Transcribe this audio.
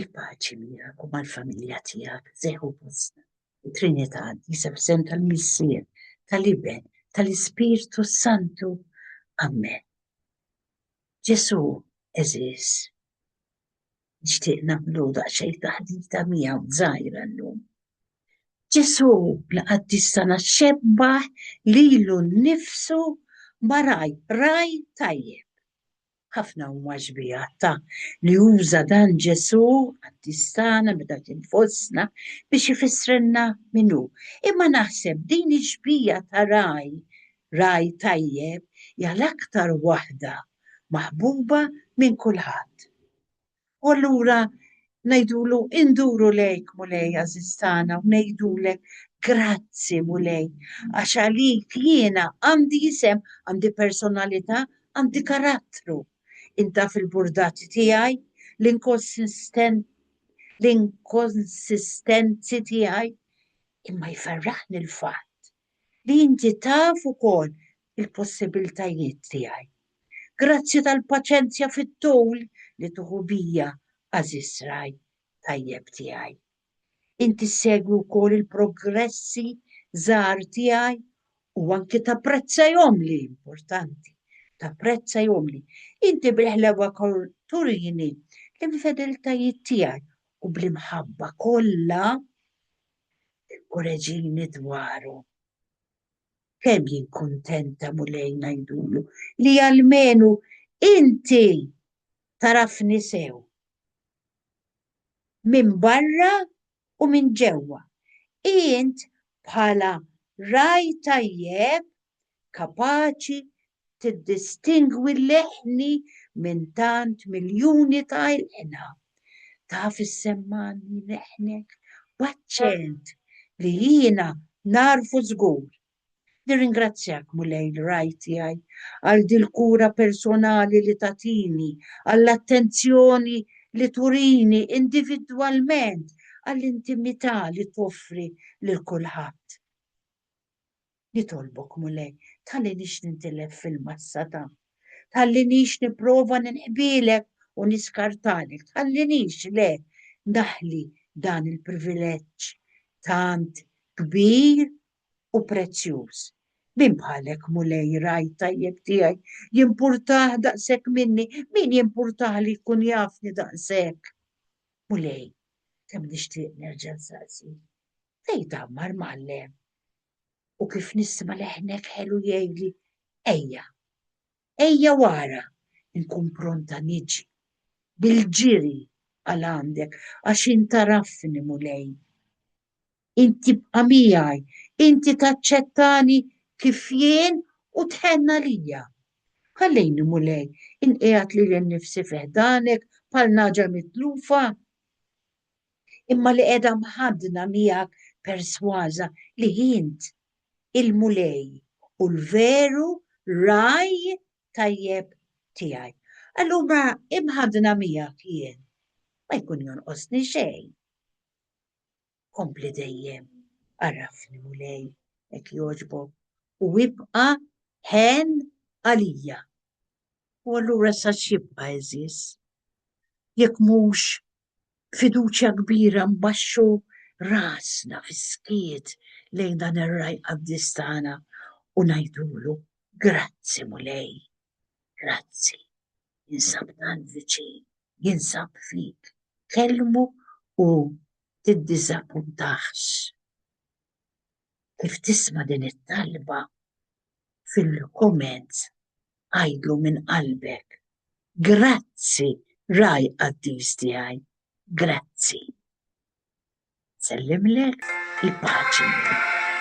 Il-paċi miegħek u mal-familja tiegħek seħu postna. Trinità Qaddisa f'isem tal-Missier, tal-Iben, tal-Ispirtu Santu. Amen. Ġesu, eżis, nixtieq nagħmlu daqsxejn taħdita miegħu żgħira llum. Ġesu, l-qaddis tagħna xebbaħ lilu nnifsu ma raj, raj tajjeb. Ħafna huma xbieha ta' li uża dan Ġesù qaddis tagħna meta kien fostna biex ifissrilna min hu. Imma naħseb din ix-xbieha ta' ragħaj, ragħaj tajjeb, hija l-aktar waħda maħbuba minn kulħadd. U allura ngħidulu induru lejk Mulej għażiż tagħna u ngħidulek grazzi Mulej għax għalik jiena għandi isem, għandi personalità, għandi karattru. Inta fil-burdati tiegħi, l-inkonsistenzi tiegħi, imma jferraħni l-fatt li inti taf ukoll il-possibiltajiet tiegħi. Grazzi tal-paċenzja fit-tul li tuħu bija, għażiż ragħaj tajjeb tiegħi. Inti ssegwi wkoll il-progressi żgħar tiegħi u anki tapprezzahom li importanti. Tapprezzahom li inti bil-ħlewa turini l-infedeltajiet tiegħi u bl-imħabba kollha Ikkoreġini dwaru. Kemm jien kuntenta Mulej ngħidulu li almenu inti tarafni sew. Minn barra u minn ġewwa. Int bħala ragħaj tajjeb kapaċi tiddistingwi l-eħni minn tant miljuni ta' ilqna. Taf issemmanni leħnek b'aċċent li jiena nagħrfu żgur. Nirringrazzjak, Mulej l-Ragħaj tiegħi, għal dil-kura personali li tagħtini, għall-attenzjoni li turini individwalment, għall-intimità li toffri lil kulħadd. Nitolbok, Mulej, tħallinix nintilef fil-massa ta'. Tħallinix nipprova ninqbielek u niskartalek. Tħallinix, le, naħli dan il-privileġġ tant kbir u prezzjuż. Min bħalek, Mulej, raj tajjeb tiegħi, jimpurtah daqshekk minni, min jimpurtah li jkun jafni daqshekk. Mulej, kemm nixtieq nerġa' nsaqsi. Fejn tgħammar mgħallem? u kif nisma' leħnek ħelu jgħidli, Ejja, ejja wara, inkun pronta niġi bil-ġiri għal għandek għax int tagħrafni, Mulej. Int tibqa' miegħi, inti taċċettani kif jien u tħenn għalija. Ħallejni, Mulej, inqiegħed lili nnifsi fi ħdanek bħal naġa mitlufa. imma li qiegħda mħaddna miegħek persważa li int, il-Mulej u l-veru ragħaj tajjeb tiegħi. Allura imħaddna miegħek jien, ma jkun jonqosni xejn. Kompli dejjem, għarrafni Mulej, hekk jogħġbok, u ibqa' ħen għalija. U allura sa xibqa' eżis, jekk mhux fiduċja kbira nbaxxu rasna fis-skiet lejn dan ir-Ragħaj Qaddis tagħna u ngħidulu, Grazzi Mulej, grazzi, jinsab tant viċin, jinsab fik, kellmu u tiddiżappuntax. kif tisma' din it-talba fil-comments għidlu minn qalbek, Grazzi Ragħaj Qaddis tiegħi, grazzi. Nsellimlek il-paċi.